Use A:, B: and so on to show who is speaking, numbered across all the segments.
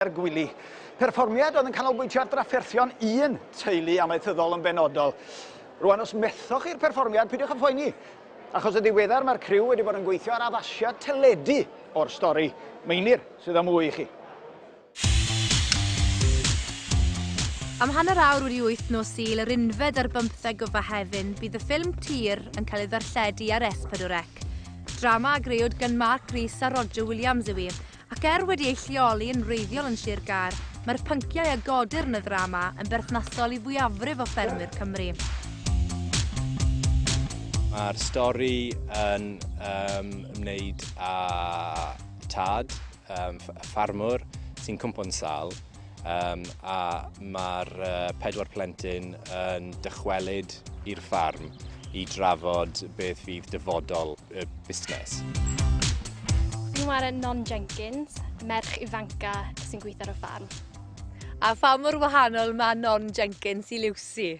A: Ger Gwili. Perfformiad oedd yn canolbwyntio ar drafferthion un teulu amaethyddol yn benodol. Rwan os methoch chi'r perfformiad, peidiwch â phoeni. Achos yn ddiweddar mae'r criw wedi bod yn gweithio ar addasiad teledu o'r stori. Meinir sydd â mwy i chi. Am hanner awr wedi wyth nos Sul yr unfed ar bymtheg o Fehefin bydd y ffilm Tyr yn cael ei ddarlledu ar S4C. Drama a grëwyd gan Mark Rees a Roger Williams yw hi, Ac er wedi ei lleoli yn wreiddiol yn Sir Gâr, mae'r pynciau a godir yn y ddrama yn berthnasol i fwyafrif o ffermwyr Cymru. Mae'r stori yn um, ymwneud â tad, um, ffarmwr, sy'n cwmpo'n sal, um, a mae'r uh, pedwar plentyn yn dychwelyd i'r ffarm i drafod beth fydd dyfodol y busnes. Fi'n wario Non Jenkins, merch ifanca sy'n gweithio ar y ffarm. A pha mor wahanol mae Non Jenkins i Lucy?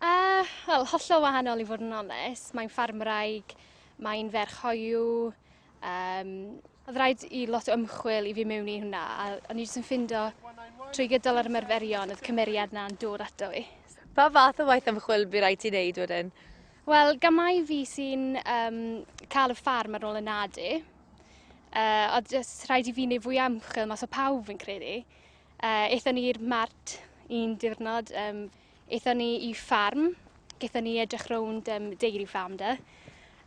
A: Uh, Wel, hollol wahanol i fod yn onest. Mae'n ffarmwraig, mae'n ferch hoiw, um, Oedd rhaid i lot o ymchwil i fi mewn i hwnna, a o'n i jyst yn ffindo trwy gydol yr ymarferion oedd cymeriad na'n dod ato fi. Pa fath o waith ymchwil bu rhaid ti wneud wedyn? Wel, gamau fi sy'n um, cael y ffarm ar ôl y nadu. Uh, a jyst rhaid i fi wneud fwy amchel mas o pawb fi'n credu. Uh, eithon ni'r mart un diwrnod, um, eithon ni i ffarm, gaethon ni edrych rownd um, deiry ffarm da.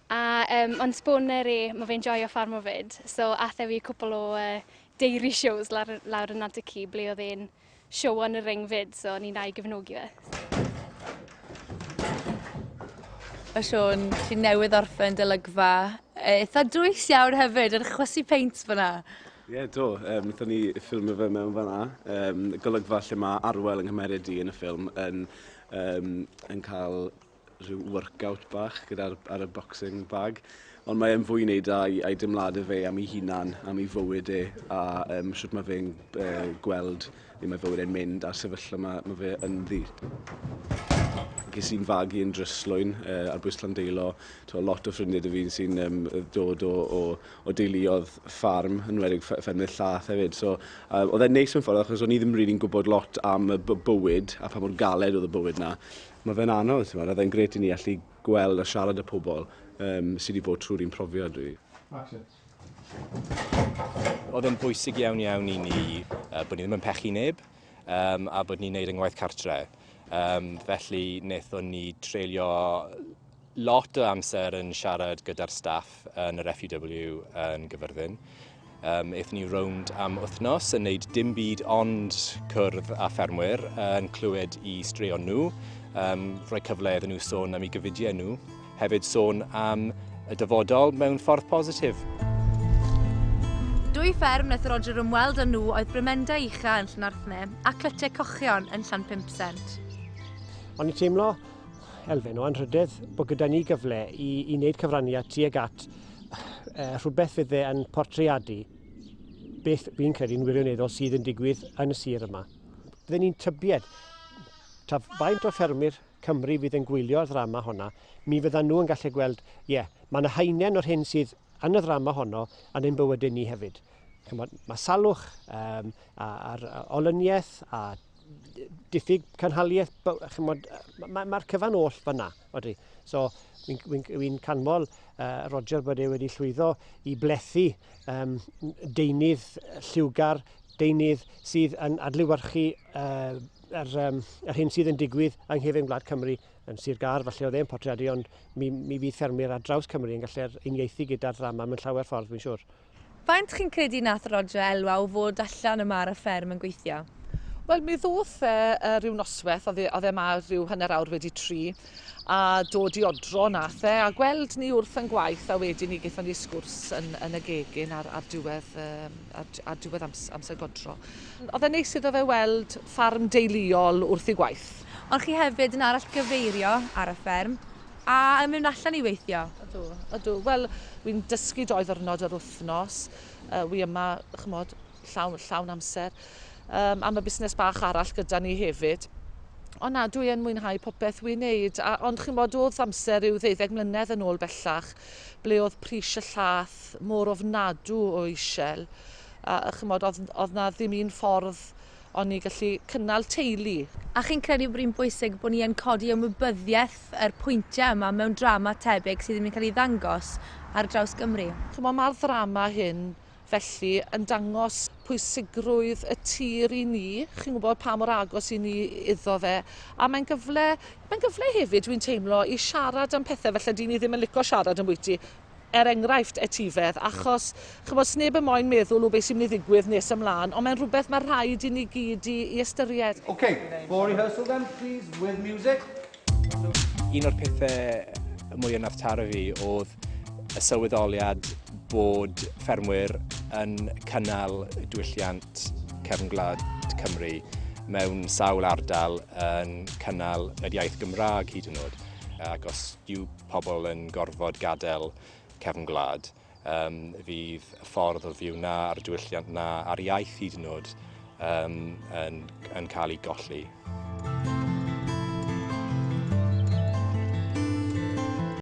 A: A um, ond sbwner e, mae fe'n joio ffarm o fyd, so athe fi cwpl o uh, deiry shows lawr, lawr yn Nant y Ci, ble oedd e'n show yn y ring fyd, so o'n i'n a'i gefnogi fe. Mae Siôn, sy'n newydd orffen dylygfa, e, eitha dwys iawn hefyd, yn chwysu peint fyna. Ie, yeah, do. Um, Nethon ni ffilmio fe mewn fanna. Um, golygfa lle mae Arwel yng Nghymeriad i yn y ffilm yn, um, yn cael rhyw workout bach gyda ar, ar y boxing bag. Ond mae e'n fwy i wneud â'i, ai dymlad y fe am ei hunan, am ei fywyd e, a um, sut mae fe'n uh, gweld le mae fywyd e'n mynd a'r sefyllfa mae, mae fe ynddi ges i'n fagu yn dryslwyn uh, ar bwys Llandeilo. To, lot o ffrindiau dy fi'n sy'n um, dod o, o, o deuluodd ffarm, yn wedig ffermydd llath hefyd. So, um, oedd e'n neis mewn ffordd achos o'n i ddim rili'n really gwybod lot am y bywyd a pa mor galed oedd y bywyd na. Mae fe'n anodd, ti'n oedd e'n gret i ni allu gweld a siarad y pobl um, sydd wedi bod trwy'r un profiad rhi. Oedd e'n bwysig iawn iawn i ni uh, bod ni ddim yn pechu neb um, a bod ni'n neud yng ngwaith cartre. Um, felly, wnaethon ni treulio lot o amser yn siarad gyda'r staff yn yr FUW yn Gyfyrddin. Um, eithon ni rownd am wythnos yn neud dim byd ond cwrdd a ffermwyr yn clywed i straeon nhw, um, rhoi cyfle iddyn nhw sôn am ei gyfidiau nhw, hefyd sôn am y dyfodol mewn ffordd positif. Dwy fferm wnaeth Roger ymweld â nhw oedd Brymenda Ucha yn Llanarthne a Clytiau Cochion yn Llanpimpsent. O'n i'n teimlo elfen o anrhydedd bod gyda ni gyfle i, i wneud cyfraniad tuag at uh, rhywbeth fydd e yn portreadu beth fi'n credu'n wirioneddol sydd yn digwydd yn y sir yma. Byddwn ni'n tybied ta faint o ffermwyr Cymru fydd yn gwylio'r ddrama honna, mi fyddan nhw yn gallu gweld, ie, yeah, mae yna haenen o'r hyn sydd yn y ddrama honno yn ein bywydau ni hefyd. Chymod, mae salwch um, a'r olyniaeth a diffyg canhaliaeth, chymod, mae'r ma cyfan oll fanna, odri. So, fi'n fi, fi, fi canmol uh, Roger bod e wedi llwyddo i blethu um, deunydd lliwgar, deunydd sydd yn adlywyrchu uh, yr, um, yr hyn sydd yn digwydd yng nghefn Gwlad Cymru yn Sir Gar, falle oedd e'n portreadu, ond mi, mi fydd ffermwyr ar draws Cymru yn gallu'r uniaethu gyda'r ddrama mewn llawer ffordd, fi'n siŵr. Faint chi'n credu nath Roger elwa o fod allan yma ar y fferm yn gweithio? Wel mi ddoth e uh, rhyw nosweth, oedd e, oedd e ma rhyw hanner awr wedi tri, a dod i odro nath e, a gweld ni wrth yn gwaith, a wedyn ni gaethon ni sgwrs yn, yn y gegin ar, ar diwedd, um, ar, ar diwedd amser, amser godro. Oedd e'n neis iddo fe weld ffarm deuluol wrth i gwaith. Ond chi hefyd yn arall gyfeirio ar y fferm? A yn mynd allan i weithio? Ydw, ydw. Wel, wi'n dysgu doi ddwrnod yr wythnos. Uh, wi yma, chymod, llawn, llawn amser. Um, am y busnes bach arall gyda ni hefyd. Ond na, dwi yn mwynhau popeth wi'n neud. A, ond chi'n bod, oedd amser rhyw ddeuddeg mlynedd yn ôl bellach, ble oedd pris y llath mor ofnadw o eisiau. A, a chymod, oedd, oedd na ddim un ffordd O'n ni'n gallu cynnal teulu. A chi'n credu bod hi'n bwysig bod ni yn codi ymwybyddiaeth yr pwyntiau yma mewn drama tebyg sydd ddim yn cael ei ddangos ar draws Gymru? Chimod, mae'r ddrama hyn felly yn dangos pwysigrwydd y tir i ni, chi'n gwybod pa mor agos i ni iddo fe, a mae'n gyfle, mae'n gyfle hefyd dwi'n teimlo i siarad am pethau felly dyn ni ddim yn licio siarad ambwyty, er enghraifft, etifedd, achos, chymod, sneb yn moyn meddwl o beth sy'n mynd i ddigwydd nes ymlaen, ond mae'n rhywbeth mae rhaid i ni gyd i, i ystyried. Ok, for rehearsal then, please, with music. Un o'r pethau mwy ynath taro fi oedd y sylweddoliad bod ffermwyr yn cynnal diwylliant cefn gwlad Cymru mewn sawl ardal yn cynnal yr iaith Gymraeg hyd yn oed. Ac os yw pobl yn gorfod gadael cefn gwlad. Um, fydd y ffordd o fyw na a'r diwylliant na a'r iaith hyd yn oed um, yn, yn cael ei golli.